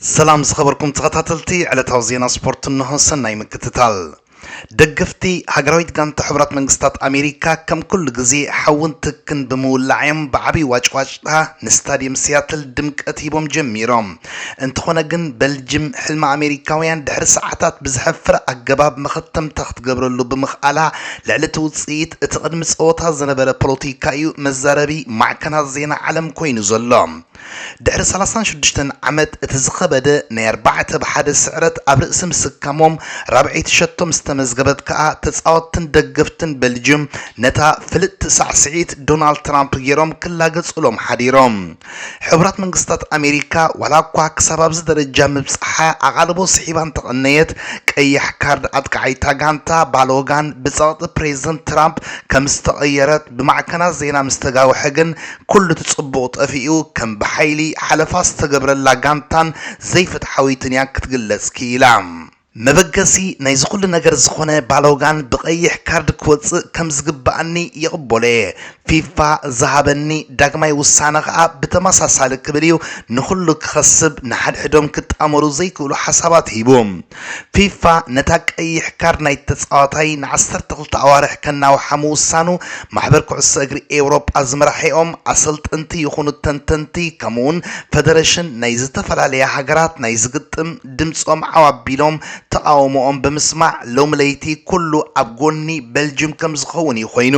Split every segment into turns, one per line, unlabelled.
ሰላም ዝኸበርኩም ተኸታተልቲ ዕለታዊ ዜና ስፖርት እንሆ ሰናይ ምክትታል። ደገፍቲ ሃገራዊት ጋንታ ሕቡራት መንግስታት ኣሜሪካ ከም ኩሉ ግዜ ሓውን ትክን ብምውላዕ እዮም ብዓብዪ ዋጭዋጭታ ንስታድየም ሲያትል ድምቀት ሂቦም ጀሚሮም። እንተኾነ ግን በልጅም ሕልሚ ኣሜሪካውያን ድሕሪ ሰዓታት ብዘሕፍር ኣገባብ መኸተምታ ክትገብረሉ ብምኽኣላ ልዕሊ እቲ ውፅኢት እቲ ቅድሚ ፀወታ ዝነበረ ፖለቲካ እዩ መዛረቢ ማዕከናት ዜና ዓለም ኮይኑ ዘሎ። ድሕሪ ሰላሳን ሽዱሽተን ዓመት እቲ ዝኸበደ ናይ ኣርባዕተ ብ ሓደ ስዕረት ኣብ ርእሲ ምስካሞም ራብዐይቲ ሸቶ ምስ ተመዝገበት ከኣ ተጻወትትን ደገፍትን በልጅም ነታ ፍልጥቲ ሳዕስዒት ዶናልድ ትራምፕ ጌሮም ክላገጹሎም ሓዲሮም። ሕቡራት መንግስታት ኣሜሪካ ዋላኳ ክሳብ ኣብዚ ደረጃ ምብጻሓ ኣቓልቦ ስሒባ እንተቐነየት ቀያሕ ካርድ ኣጥቃዓይታ ጋንታ ባሎጋን ብጸቕጢ ፕረዚደንት ትራምፕ ከምዝተቐየረት ብማዕከናት ዜና ምስተጋውሐ ግን ኩሉ እቲ ጽቡቕ ጠፊኡ ከም ብሓይሊ ሓለፋ ዝተገብረላ ጋንታን ዘይፍትሓዊትን እያ ክትግለጽ ክኢላ። መበገሲ ናይዚ ኩሉ ነገር ዝኾነ ባሎጋን ብቀይሕ ካርድ ክወጽእ ከም ዝግበኣኒ ይቕበሎ እየ። ፊፋ ዝሃበኒ ዳግማይ ውሳነ ከኣ ብተመሳሳሊ ክብል እዩ ንኹሉ ክኸስብ ንሓድሕዶም ክጣመሩ ዘይክእሉ ሓሳባት ሂቡ። ፊፋ ነታ ቀይሕ ካርድ ናይቲ ተጻዋታይ ንዓሰርተ ክልተ ኣዋርሕ ከናውሓ ምውሳኑ ማሕበር ኩዕሶ እግሪ ኤውሮጳ ዝመራሒኦም ኣሰልጠንቲ ይኹኑ ተንተንቲ ከምኡ'ውን ፈደረሽን ናይ ዝተፈላለያ ሃገራት ናይዚ ግጥም ድምጾም ዓው ኣቢሎም ተቓውሞኦም ብምስማዕ ሎሚ ለይቲ ኩሉ ኣብ ጎኒ በልጅም ከምዝኸውን እዩ ኮይኑ።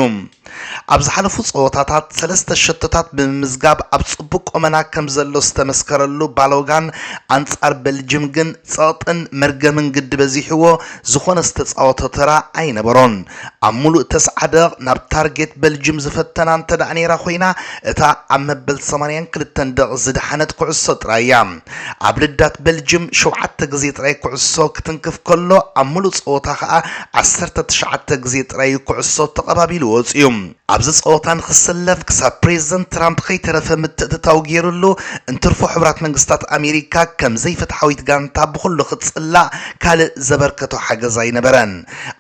ኣብ ዝሓለፉ ፀወታታት ሰለስተ ሸቶታት ብምምዝጋብ ኣብ ፅቡቕ ቆመና ከምዘሎ ዝተመስከረሉ ባሎጋን ኣንፃር በልጅም ግን ፀቕጥን መርገምን ግዲ በዚሕዎ ዝኾነ ዝተፃወቶ ተራ ኣይነበሮን። ኣብ ሙሉእ ተስዓ ደቕቕ ናብ ታርጌት በልጅም ዝፈተና እንተድኣ ነይራ ኮይና እታ ኣብ መበል ሰማንያን ክልተን ደቕቕ ዝደሓነት ኩዕሶ ጥራይ እያ። ኣብ ልዳት ቤልጅም ሸውዓተ ግዜ ጥራይ ኩዕሶ ክትንክፍ ከሎ ኣብ ምሉእ ጸወታ ከኣ ዓሰርተ ትሽዓተ ግዜ ጥራይ'ዩ ኩዕሶ ተቐባቢሉ ወጺኡ። ኣብዚ ጸወታ ንክሰለፍ ክሳብ ፕሬዝደንት ትራምፕ ከይተረፈ ምትእትታው ጌሩሉ፣ እንትርፎ ሕቡራት መንግስታት ኣሜሪካ ከም ዘይፍትሓዊት ጋንታ ብኹሉ ክትጽላእ ካልእ ዘበርከቶ ሓገዝ ኣይነበረን።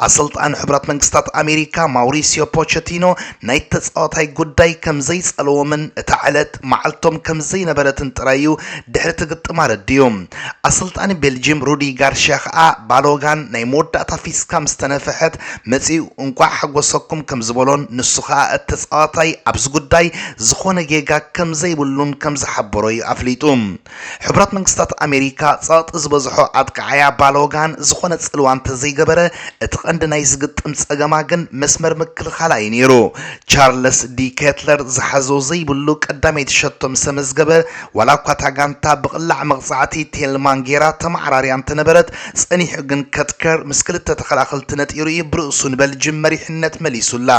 ኣሰልጣኒ ሕቡራት መንግስታት ኣሜሪካ ማውሪስዮ ፖቸቲኖ ናይቲ ተጻዋታይ ጉዳይ ከም ዘይጸለዎምን እታ ዕለት መዓልቶም ከም ዘይነበረትን ጥራይ እዩ ድሕሪ እቲ ግጥም ኣረዲኡ። ኣሰልጣኒ ቤልጂም ሩዲ ጋርሽያ ከኣ ባሎጋን ናይ መወዳእታ ፊስካ ምስ ተነፍሐት መጺኡ እንቋዕ ሓጎሰኩም ከም ዝበሎን ንሱ ከኣ እቲ ተጻዋታይ ኣብዚ ጉዳይ ዝኾነ ጌጋ ከም ዘይብሉን ከም ዝሓበሮ እዩ ኣፍሊጡ። ሕቡራት መንግስታት ኣሜሪካ ጸቕጢ ዝበዝሖ ኣጥቃዓያ ባለወጋን ዝኾነ ጽልዋ እንተዘይገበረ፣ እቲ ቀንዲ ናይዚ ግጥም ጸገማ ግን መስመር ምክልኻላ እዩ ነይሩ። ቻርለስ ዲ ኬትለር ዝሓዞ ዘይብሉ ቀዳመይቲ ሸቶ ምሰመዝገበ፣ ዋላ እኳ እታ ጋንታ ብቕላዕ መቕጻዕቲ ቴልማን ገይራ ተመዓራርያ እንተነበረት፣ ጸኒሑ ግን ከትከር ምስ ክልተ ተኸላኸልቲ ነጢሩ እዩ ብርእሱ ንበልጅም መሪሕነት መሊሱላ።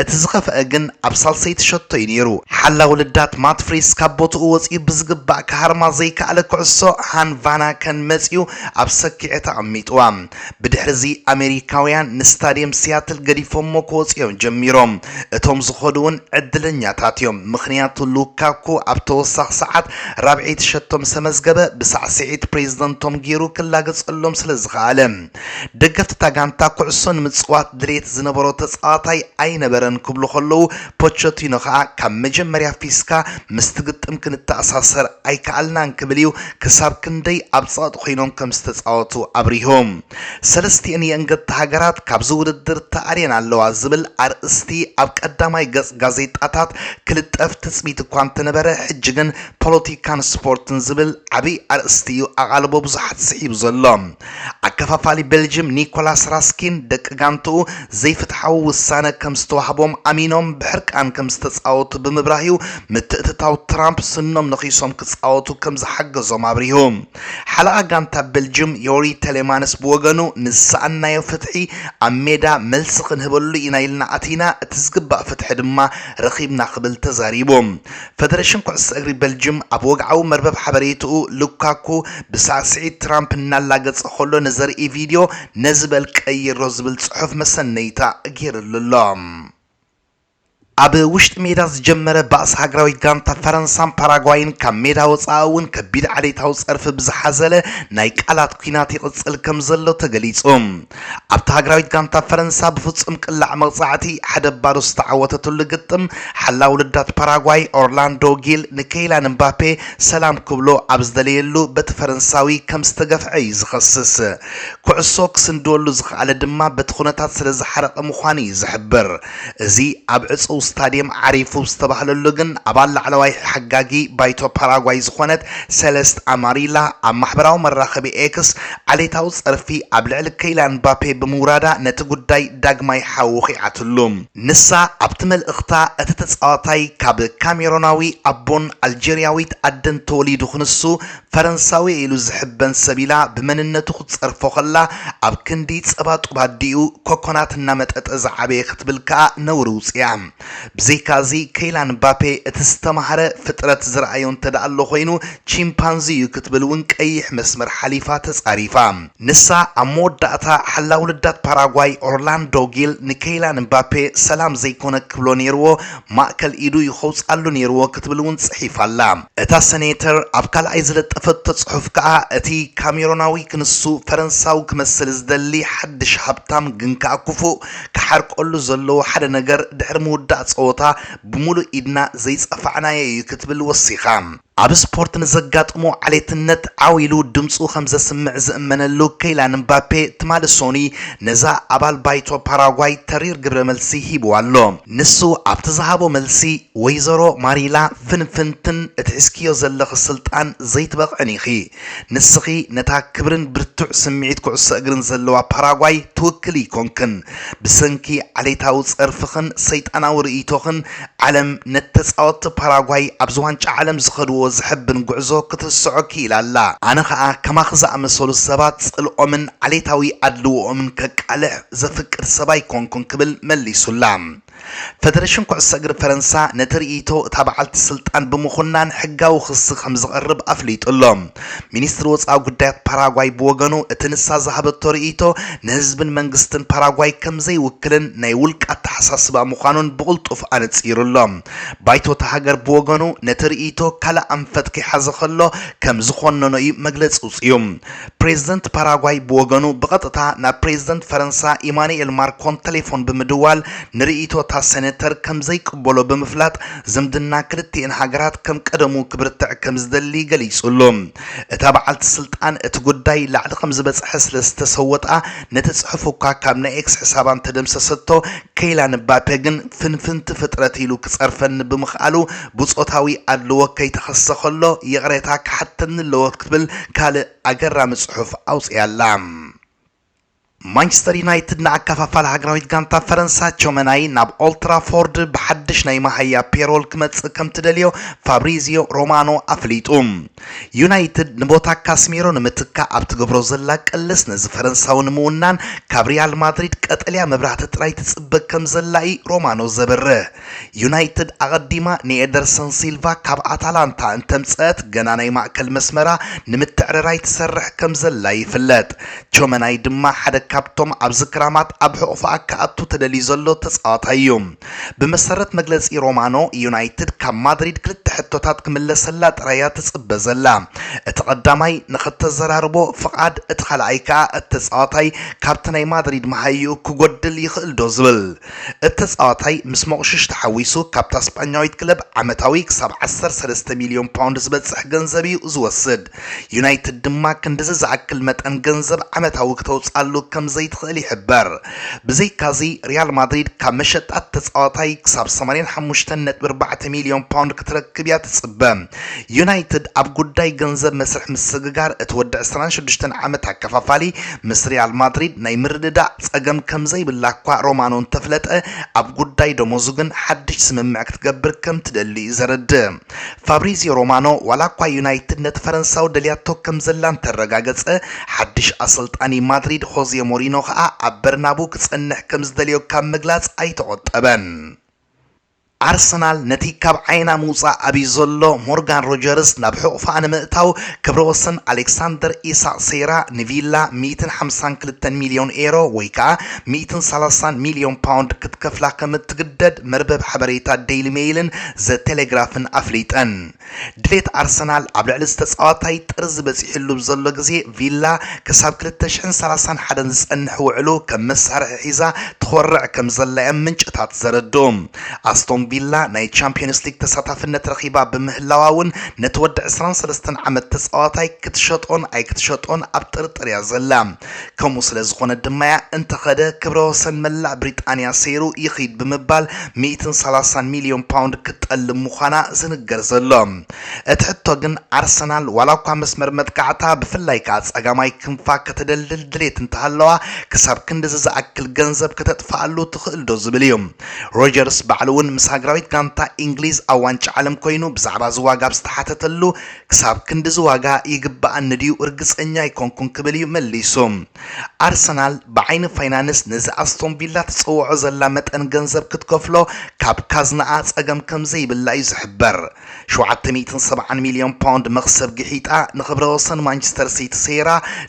እቲ ዝኸፍኣ ግን ኣብ ሳልሰይቲ ሸቶ እዩ ነይሩ። ሓላዊ ልዳት ማት ፍሪስ ካብ ቦትኡ ወጺኡ ብዝግባእ ክሃርማ ዘይከኣለ ኩዕሶ ሃን ቫናከን መጺኡ ኣብ ሰኪዔት ኣቐሚጥዋ። ብድሕሪ'ዚ ኣሜሪካውያን ንስታድየም ሲያትል ገዲፎሞ ክወጹ እዮም ጀሚሮም። እቶም ዝኸዱ'ውን ዕድለኛታት እዮም ምኽንያቱ ሉካኩ ኣብ ተወሳኺ ሰዓት ራብዐይቲ ሸቶ ምሰ መዝገበ ብሳዕስዒት ፕሬዝደንቶም ገይሩ ክላገጸሎም ስለዝኸኣለ። ደገፍቲ እታ ጋንታ ኩዕሶ ንምጽዋት ድሌት ዝነበሮ ተጻዋታይ ኣይነበረን ክብሉ ከለዉ፣ ፖቸቲኖ ከኣ ካብ መጀመርያ ፊስካ ምስቲ ግጥም ክንተኣሳሰር ኣይከኣልናን ክብል እዩ ክሳብ ክንደይ ኣብ ጸቕጢ ኮይኖም ከም ዝተጻወቱ ኣብሪሁ። ሰለስቲኤን የእንገድቲ ሃገራት ካብዚ ውድድር ተኣልየን ኣለዋ ዝብል ኣርእስቲ ኣብ ቀዳማይ ገጽ ጋዜጣታት ክልጠፍ ትጽቢት እኳ እንተነበረ ሕጂ ግን ፖለቲካን ስፖርትን ዝብል ዓቢ ኣርእስቲ እዩ ኣቓልቦ ብዙሓት ስሒቡ ዘሎ። ኣከፋፋሊ ቤልጅም ኒኮላስ ራስኪን ደቂ ጋንትኡ ዘይፍትሓዊ ውሳነ ከም ዝተዋህቦም ኣሚኖም ብሕርቃን ከም ዝተጻወቱ ብምብራህ'ዩ ምትእትታው ትራምፕ ስኖም ነኺሶም ክጻወቱ ከም ዝሓገዞም ኣብሪሁ። ሓለቓ ጋንታ ቤልጅም ዮሪ ተሌማንስ ብወገኑ ንዝሰኣንናዮ ፍትሒ ኣብ ሜዳ መልሲ ክንህበሉ ኢና ኢልና ኣቲና፣ እቲ ዝግባእ ፍትሒ ድማ ረኺብና ክብል ተዛሪቡ። ፈደረሽን ኩዕሶ እግሪ በልጅም ኣብ ወግዓዊ መርበብ ሓበሬትኡ ሉካኩ ብሳዕስዒት ትራምፕ እናላገጸ ከሎ ንዘርኢ ቪድዮ ነዚ በል ቀይሮ ዝብል ጽሑፍ መሰነይታ ገይርሉ ኣሎ። ኣብ ውሽጢ ሜዳ ዝጀመረ ባእሲ ሃገራዊት ጋንታ ፈረንሳን ፓራጓይን ካብ ሜዳ ወጻኢ እውን ከቢድ ዓሌታዊ ጸርፊ ብዝሓዘለ ናይ ቃላት ኲናት ይቕጽል ከምዘሎ ተገሊጹ። ኣብታ ሃገራዊት ጋንታ ፈረንሳ ብፍጹም ቅላዕ መቕጻዕቲ ሓደ ባዶ ዝተዓወተትሉ ግጥም፣ ሓላዊ ልዳት ፓራጓይ ኦርላንዶ ጊል ንከይላን እምባፔ ሰላም ክብሎ ኣብ ዝደለየሉ በቲ ፈረንሳዊ ከም ዝተገፍዐ እዩ ዝኸስስ። ኩዕሶ ክስንድወሉ ዝኸኣለ ድማ በቲ ኩነታት ስለ ዝሓረቐ ምዃኑ እዩ ዝሕብር። እዚ ኣብ ዕጹው ስታድየም ዓሪፉ ዝተባህለሉ ግን ኣባል ላዕለዋይ ሓጋጊ ባይቶ ፓራጓይ ዝኾነት ሰለስት ኣማሪላ ኣብ ማሕበራዊ መራኸቢ ኤክስ ዓሌታዊ ጸርፊ ኣብ ልዕሊ ከይላን ምባፔ ብምውራዳ ነቲ ጉዳይ ዳግማይ ሓዊ ወኺዓትሉ። ንሳ ኣብቲ መልእኽታ እቲ ተጻዋታይ ካብ ካሜሮናዊ ኣቦን ኣልጀርያዊት ኣደን ተወሊዱ ክንሱ ፈረንሳዊ'የ ኢሉ ዝሕበን ሰብ ኢላ ብመንነቱ ክትጸርፎ ከላ፣ ኣብ ክንዲ ጸባጡብ ኣዲኡ ኮኮናት እናመጠጠ ዝዓበየ ክትብል ከኣ ነውሪ ውጺኣ። ብዘይካ'ዚ ከይላን ምባፔ እቲ ዝተማህረ ፍጥረት ዝረኣዮ እንተደኣሎ ኮይኑ ቺምፓንዚ'ዩ ክትብል'ውን ቀይሕ መስመር ሓሊፋ ተጻሪፋ። ንሳ ኣብ መወዳእታ ሓላዊ ልዳት ፓራጓይ ኦርላንዶ ጊል ንከይላን ምባፔ ሰላም ዘይኮነ ክብሎ ነይርዎ ማእከል ኢዱ እዩ ከውጽኣሉ ነይርዎ ክትብል እውን ጽሒፋ ኣላ። እታ ሰኔተር ኣብ ካልኣይ ዝለጠፈቶ ጽሑፍ ከኣ፣ እቲ ካሜሮናዊ ክንሱ ፈረንሳዊ ክመስል ዝደሊ ሓድሽ ሃብታም ግን ከኣ ክፉእ፣ ክሓርቀሉ ዘለዎ ሓደ ነገር ድሕሪ ምውዳእ ጸወታ ብምሉእ ኢድና ዘይጸፋዕናዮ እዩ ክትብል ወሲኻ። ኣብ ስፖርት ንዘጋጥሞ ዓሌትነት ዓው ኢሉ ድምጹ ከም ዘስምዕ ዝእመነሉ ከይላን ምባፔ ትማሊ ሶኑይ ነዛ ኣባል ባይቶ ፓራጓይ ተሪር ግብረ መልሲ ሂቡዋ ኣሎ። ንሱ ኣብቲ ዝሃቦ መልሲ፣ ወይዘሮ ማሪላ ፍንፍንትን እትሕዝክዮ ዘለኺ ስልጣን ዘይትበቕዕን ኢኺ። ንስኺ ነታ ክብርን ብርቱዕ ስምዒት ኩዕሶ እግርን ዘለዋ ፓራጓይ ትውክሊ ኣይኮንክን። ብሰንኪ ዓሌታዊ ጸርፍኽን ሰይጣናዊ ርእይቶኽን ዓለም ነቲ ተጻወትቲ ፓራጓይ ኣብዚ ዋንጫ ዓለም ዝኸድዎ ዘሐብን ጉዕዞ ክትርስዖ ክኢላ ኣላ። ኣነ ከኣ ከማኺ ዝኣመሰሉ ሰባት ጽልኦምን ዓሌታዊ ኣድልዎኦምን ከቃልሕ ዘፍቅድ ሰብ ኣይኮንኩን ክብል መሊሱላ። ፈደረሽን ኩዕሶ እግሪ ፈረንሳ ነቲ ርእይቶ እታ በዓልቲ ስልጣን ብምኹናን ሕጋዊ ክሲ ከምዘቕርብ ኣፍሊጡ ኣሎ። ሚኒስትሪ ወጻኢ ጉዳያት ፓራጓይ ብወገኑ እቲ ንሳ ዝሃበቶ ርእይቶ ንህዝብን መንግስትን ፓራጓይ ከምዘይውክልን ናይ ውልቂ ኣተሓሳስባ ምዃኑን ብቕልጡፍ ኣነጺሩ ኣሎ። ባይቶ እታ ሃገር ብወገኑ ነቲ ርእይቶ ካልእ ኣንፈት ከይሓዘ ከሎ ከምዝኾነኖ እዩ መግለጺ ኣውጺኡ። ፕሬዝደንት ፓራጓይ ብወገኑ ብቐጥታ ናብ ፕሬዝደንት ፈረንሳ ኢማኑኤል ማርኮን ተሌፎን ብምድዋል ንርእይቶ እታ ሴኔተር ከምዘይቅበሎ ብምፍላጥ ዝምድና ክልቲኤን ሃገራት ከም ቀደሙ ክብርትዕ ከምዝደሊ ገሊጹ'ሎ። እታ በዓልቲ ስልጣን እቲ ጉዳይ ላዕሊ ከምዝበጽሐ ስለዝተሰወጣ ነቲ ጽሑፍ እኳ ካብ ናይ ኤክስ ሕሳባ እንተደምሰሰቶ ከይላን ምባፔ ግን ፍንፍንቲ ፍጥረት ኢሉ ክጸርፈኒ ብምኽኣሉ ብጾታዊ ኣድልዎ ከይተኸስሰ ከሎ ይቕሬታ ክሓተኒ ኣለዎ ክትብል ካልእ ኣገራሚ ጽሑፍ ኣውጺኣ ኣላ። ማንቸስተር ዩናይትድ ንኣከፋፋሊ ሃገራዊት ጋንታ ፈረንሳ ቾመናይ ናብ ኦልትራፎርድ ብሓድሽ ናይ መሃያ ፔሮል ክመጽእ ከም ትደልዮ ፋብሪዚዮ ሮማኖ ኣፍሊጡ። ዩናይትድ ንቦታ ካስሚሮ ንምትካእ ኣብ ትገብሮ ዘላ ቅልስ ነዚ ፈረንሳዊ ንምውናን ካብ ሪያል ማድሪድ ቀጠልያ መብራህቲ ጥራይ ትጽበ ከም ዘላ'ዩ ሮማኖ ዘብርህ። ዩናይትድ ኣቐዲማ ንኤደርሰን ሲልቫ ካብ ኣታላንታ እንተምጸኣት ገና ናይ ማእከል መስመራ ንምትዕርራይ ትሰርሕ ከምዘላ ይፍለጥ። ቾመናይ ድማ ሓደ ካብቶም ኣብዚ ክራማት ኣብ ሕቑፋኣ ክኣቱ ተደልዩ ዘሎ ተጻዋታይ'ዩ። ብመሰረት መግለጺ ሮማኖ፣ ዩናይትድ ካብ ማድሪድ ክልተ ሕቶታት ክምለሰላ ጥራይ'ያ ትጽበ ዘላ። እቲ ቀዳማይ ንኸተዘራርቦ ፍቓድ፣ እቲ ካልኣይ ከኣ እቲ ተጻዋታይ ካብቲ ናይ ማድሪድ መሃይኡ ክጎድል ይኽእል'ዶ ዝብል። እቲ ተጻዋታይ ምስ ሞቕሽሽ ተሓዊሱ ካብታ ስጳኛዊት ክለብ ዓመታዊ ክሳብ ዓሰርተ ሰለስተ ሚልዮን ፓውንድ ዝበጽሕ ገንዘብ'ዩ ዝወስድ። ዩናይትድ ድማ ክንድዚ ዝኣክል መጠን ገንዘብ ዓመታዊ ክተውጽኣሉ ከም ዘይትኽእል ይሕበር። ብዘይካ'ዚ ሪያል ማድሪድ ካብ መሸጣ'ቲ ተጻዋታይ ክሳብ ሰማንያን ሓሙሽተን ነጥቢ ኣርባዕተ ሚልዮን ፓውንድ ክትረክብ'ያ ትጽበ። ዩናይትድ ኣብ ጉዳይ ገንዘብ መስርሕ ምስግጋር እቲ ወዲ ዕስራን ሽዱሽተን ዓመት ኣከፋፋሊ ምስ ሪያል ማድሪድ ናይ ምርድዳእ ጸገም ከምዘይብላ እኳ ሮማኖ እንተፍለጠ ኣብ ጉዳይ ደሞዙ ግን ሓድሽ ስምምዕ ክትገብር ከምትደሊ እዩ ዘረድእ። ፋብሪዝዮ ሮማኖ ዋላ እኳ ዩናይትድ ነቲ ፈረንሳዊ ደልያቶ ከምዘላ እንተረጋገጸ ሓድሽ ኣሰልጣኒ ማድሪድ ሆዜ ሞሪኖ ከኣ ኣብ በርናቡ ክጸንሕ ከምዝደልዮ ካብ ምግላጽ ኣይተቖጠበን። ኣርሰናል ነቲ ካብ ዓይና ምውጻእ ኣብዩ ዘሎ ሞርጋን ሮጀርስ ናብ ሕቑፋኣ ንምእታው ክብረ ወሰን ኣሌክሳንደር ኢሳቕ ሰይራ ንቪላ ሚእትን ሓምሳን ክልተን ሚልዮን ኤሮ ወይ ከኣ ሚእትን ሰላሳን ሚልዮን ፓውንድ ክትከፍላ ከም እትግደድ መርበብ ሓበሬታ ደይሊ ሜይልን ዘ ቴሌግራፍን ኣፍሊጠን። ድሌት ኣርሰናል ኣብ ልዕሊ እዚ ተጻዋታይ ጥርዚ በጺሕሉ ብ ዘሎ ግዜ ቪላ ክሳብ ክልተ ሽሕን ሰላሳን ሓደን ዝጸንሕ ውዕሉ ከም መሳርሒ ሒዛ ትኾርዕ ከም ዘላ እዮም ምንጭታት ዘረድኡ። ኣስቶን ቪላ ናይ ቻምፕዮንስ ሊግ ተሳታፍነት ረኺባ ብምህላዋ ውን ነቲ ወዲ ዕስራን ሰለስተን ዓመት ተጻዋታይ ክትሸጦን ኣይክትሸጦን ኣብ ጥርጥር እያ ዘላ። ከምኡ ስለ ዝኾነት ድማ'ያ እንተኸደ ክብረ ወሰን መላእ ብሪጣንያ ሰይሩ ይኺድ ብምባል ሚእትን ሰላሳን ሚልዮን ፓውንድ ክትጠልብ ምዃና ዝንገር ዘሎ። እቲ ሕቶ ግን ኣርሰናል ዋላ'ኳ መስመር መጥቃዕታ ብፍላይ ከኣ ጸጋማይ ክንፋ ከተደልድል ድሌት እንተሃለዋ ክሳብ ክንድዚ ዝኣክል ገንዘብ ከተጥፍኣሉ ትኽእል'ዶ ዝብል እዩ። ሮጀርስ ባዕሉ'ውን ምስ ሃገራዊት ጋንታ ኢንግሊዝ ኣብ ዋንጫ ዓለም ኮይኑ ብዛዕባ'ዚ ዋጋ ኣብ ዝተሓተተሉ ክሳብ ክንድዚ ዋጋ ይግበኣኒ ድዩ ርግጸኛ ኣይኮንኩን ክብል እዩ መሊሱ። ኣርሰናል ብዓይኒ ፋይናንስ ነዚ ኣስቶን ቪላ ትጽውዖ ዘላ መጠን ገንዘብ ክትከፍሎ ካብ ካዝናኣ ጸገም ከም ዘይብላ እዩ ዝሕበር። ሸውዓተ ሚእትን ሰብዓን ሚልዮን ፓውንድ መኽሰብ ግሒጣ ንኽብረ ወሰን ማንቸስተር ሲቲ ሰይራ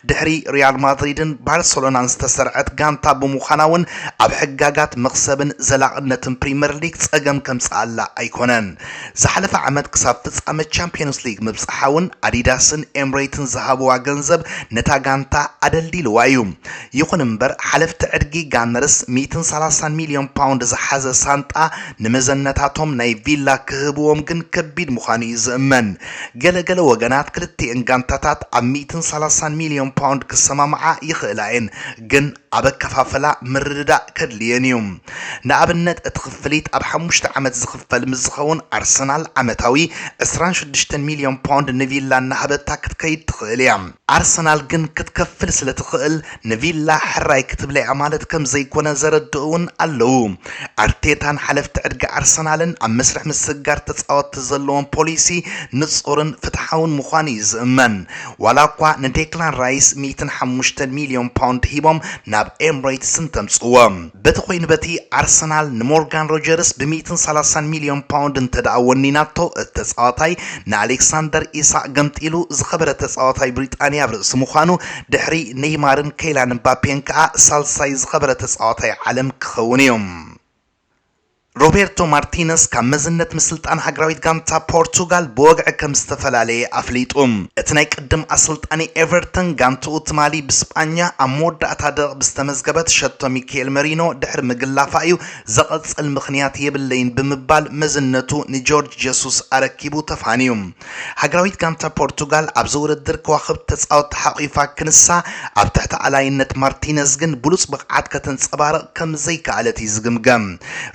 ድሕሪ ሪያል ማድሪድን ባርሰሎናን ዝተሰርዐት ጋንታ ብምዃና እውን ኣብ ሕጋጋት መኽሰብን ዘላቕነትን ፕሪመር ሊግ ጸገም ከምጽኣላ ኣይኮነን። ዝሓለፈ ዓመት ክሳብ ፍጻመ ቻምፕዮንስ ሊግ ምብጻሓ'ውን ኣዲዳስን ኤምሬትን ዝሃብዋ ገንዘብ ነታ ጋንታ ኣደልዲልዋ እዩ። ይኹን እምበር ሓለፍቲ ዕድጊ ጋነርስ ሚእትን ሰላሳን ሚልዮን ፓውንድ ዝሓዘ ሳንጣ ንመዘነታቶም ናይ ቪላ ክህብዎም ግን ከቢድ ምዃኑ እዩ ዝእመን። ገለ ገለ ወገናት ክልቲኤን ጋንታታት ኣብ ሚእትን ሰላሳን ሚልዮን ፓውንድ ክሰማምዓ ይኽእላ እየን ግን ኣብ ኣከፋፍላ ምርድዳእ ከድልየን እዩ። ንኣብነት እቲ ክፍሊት ኣብ ሓሙሽተ ዓመት ዝኽፈል ምስ ዝኸውን ኣርሰናል ዓመታዊ ዕስራን ሽዱሽተን ሚልዮን ፓውንድ ንቪላ እናሃበታ ክትከይድ ትኽእል እያ። ኣርሰናል ግን ክትከፍል ስለ ትኽእል ንቪላ ሕራይ ክትብላ እያ ማለት ከም ዘይኮነ ዘረድኡ እውን ኣለዉ። ኣርቴታን ሓለፍቲ ዕድጋ ኣርሰናልን ኣብ መስርሕ ምስግጋር ተጻወትቲ ዘለዎም ፖሊሲ ንጹርን ፍትሓውን ምዃኑ እዩ ዝእመን። ዋላ እኳ ንዴክላን ራይስ ሚእትን ሓሙሽተን ሚልዮን ፓውንድ ሂቦም ናብ ኤምሬትስ እንተምጽእዎ። በቲ ኮይኑ በቲ ኣርሰናል ንሞርጋን ሮጀርስ ብ ሚእትን ሰላሳን ሚልዮን ፓውንድ እንተድኣ ወኒናቶ እቲ ተጻዋታይ ንኣሌክሳንደር ኢሳቕ ገምጢሉ ዝኸበረ ተጻዋታይ ብሪጣንያ ኣብ ርእሲ ምዃኑ ድሕሪ ነይማርን ከይላን እምባፔን ከኣ ሳልሳይ ዝኸበረ ተጻዋታይ ዓለም ክኸውን'ዩ። ሮቤርቶ ማርቲነስ ካብ መዝነት ምስልጣን ሃገራዊት ጋንታ ፖርቱጋል ብወግዒ ከምዝተፈላለየ ኣፍሊጡ። እቲ ናይ ቅድም ኣሰልጣኒ ኤቨርተን ጋንትኡ ትማሊ ብስጳኛ ኣብ መወዳእታ ደቕቕ ብዝተመዝገበት ሸቶ ሚኬል መሪኖ ድሕሪ ምግላፋ እዩ ዘቐጽል ምኽንያት የብለይን ብምባል መዝነቱ ንጆርጅ ጀሱስ ኣረኪቡ ተፋንዩ። ሃገራዊት ጋንታ ፖርቱጋል ኣብዚ ውድድር ከዋኽብቲ ተጻወትታ ሓቚፋ ክንሳ፣ ኣብ ትሕቲ ኣላይነት ማርቲነዝ ግን ብሉጽ ብቕዓት ከተንጸባርቕ ከም ዘይከኣለት እዩ ዝግምገም።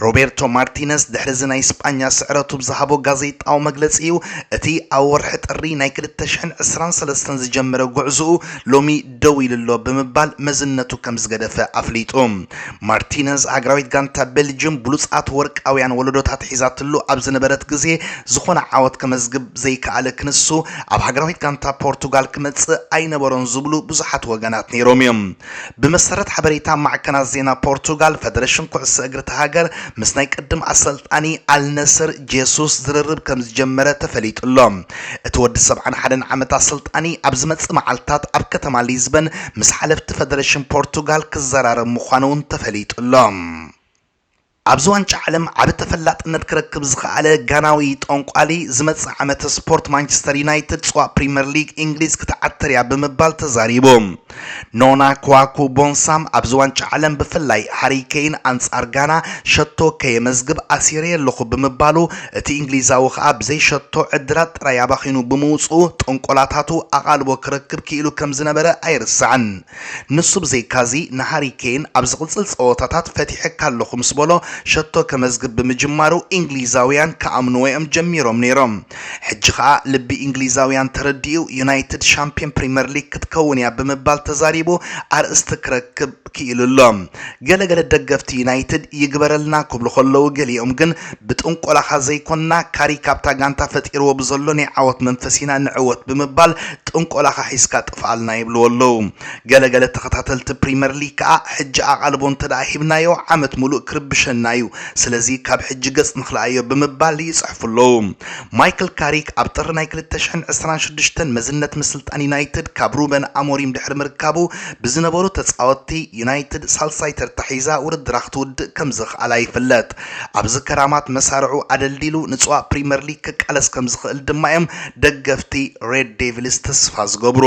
ሮቤርቶ ማርቲነዝ ድሕሪ'ዚ ናይ ስጳኛ ስዕረቱ ብዝሃቦ ጋዜጣዊ መግለጺ'ዩ እቲ ኣብ ወርሒ ጥሪ ናይ ክልተ ሽሕን ዕስራን ሰለስተን ዝጀመረ ጉዕዞኡ ሎሚ ደው ኢሉ'ሎ ብምባል መዝነቱ ከምዝገደፈ ኣፍሊጡ። ማርቲነዝ፣ ሃገራዊት ጋንታ ቤልጅዩም ብሉጻት ወርቃውያን ወለዶታት ሒዛትሉ ኣብ ዝነበረት ግዜ ዝኾነ ዓወት ከመዝግብ ዘይከኣለ ክንሱ ኣብ ሃገራዊት ጋንታ ፖርቱጋል ክመጽእ ኣይነበሮን ዝብሉ ብዙሓት ወገናት ነይሮም'ዮም። ብመሰረት ሓበሬታ ማዕከናት ዜና ፖርቱጋል፣ ፈደረሽን ኩዕሶ እግሪ'ታ ሃገር ምስ ናይ ቅድም ኣሰልጣኒ ኣልነስር ጄሱስ ዝርርብ ከምዝጀመረ ተፈሊጡ'ሎ። እቲ ወዲ ሰብዓን ሓደን ዓመታት ስልጣኒ ኣብ ዝመጽእ መዓልታት ኣብ ከተማ ሊዝበን ምስ ሓለፍቲ ፈደረሽን ፖርቱጋል ክዘራረብ ምዃኑ'ውን ተፈሊጡ'ሎ። ኣብዚ ዋንጫ ዓለም ዓቢ ተፈላጥነት ክረክብ ዝኸኣለ ጋናዊ ጠንቋሊ፣ ዝመጽእ ዓመት ስፖርት ማንቸስተር ዩናይትድ ጽዋእ ፕሪመር ሊግ ኢንግሊዝ ክትዓትር'ያ ብምባል ተዛሪቡ። ኖና ክዋኩ ቦንሳም ኣብዚ ዋንጫ ዓለም ብፍላይ ሃሪ ኬይን ኣንጻር ጋና ሸቶ ከየመዝግብ ኣሲረየ'ለኹ ብምባሉ እቲ እንግሊዛዊ ከኣ ብዘይ ሸቶ ዕድላት ጥራይ ኣባኺኑ ብምውጽኡ ጥንቆላታቱ ኣቓልቦ ክረክብ ክኢሉ ከም ዝነበረ ኣይርሳዕን። ንሱ ብዘይካ'ዚ ንሃሪ ኬይን ኣብ ዝቕጽል ጸወታታት ፈቲሐካ'ለኹ ምስ በሎ ሸቶ ከመዝግብ ብምጅማሩ እንግሊዛውያን ክኣምንዎ'ዮም ጀሚሮም ነይሮም። ሕጂ ከኣ ልቢ ኢንግሊዛውያን ተረዲኡ ዩናይትድ ሻምፕዮን ፕሪመር ሊግ ክትከውን እያ ብምባል ተዛሪቡ ኣርእስቲ ክረክብ ክኢሉ ኣሎ። ገለ ገለ ደገፍቲ ዩናይትድ ይግበረልና ክብሉ ከለዉ ገሊኦም ግን ብጥንቆላኻ ዘይኮንና ካሪክ ኣብታ ጋንታ ፈጢርዎ ብዘሎ ናይ ዓወት መንፈስ ኢና ንዕወት ብምባል ጥንቆላኻ ሒዝካ ጥፍኣልና ይብልዎ ኣለዉ። ገለ ገለ ተኸታተልቲ ፕሪመር ሊግ ከኣ ሕጂ ኣቓልቦ እንተደኣ ሂብናዮ ዓመት ምሉእ ክርብሸና እዩ ስለዚ ካብ ሕጂ ገጽ ንኽልኣዮ ብምባል ይጽሕፉ ኣለዉ። ማይክል ካሪክ ኣብ ጥሪ ናይ ክልተ ሽሕን ዕስራን ሽዱሽተን መዝነት ምስልጣን ዩናይትድ ካብ ሩበን ኣሞሪም ድሕሪ ምርካቡ ብዝነበሩ ተጻወትቲ ዩናይትድ ሳልሳይ ተርታ ሒዛ ውድድራ ክትውድእ ከምዘኽኣላ ይፍለጥ። ኣብዚ ከራማት መሳርዑ ኣደልዲሉ ንጽዋ ፕሪመር ሊግ ክቃለስ ከምዝኽእል ድማ እዮም ደገፍቲ ሬድ ዴቪልስ ተስፋ ዝገብሩ።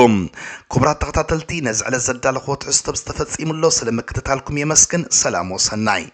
ክቡራት ተኸታተልቲ ነዚ ዕለት ዘዳለኽዎ ትሕዝቶ ብዝተፈጺሙ ኣሎ ስለ ምክትታልኩም የመስግን ሰላም ወሰናይ።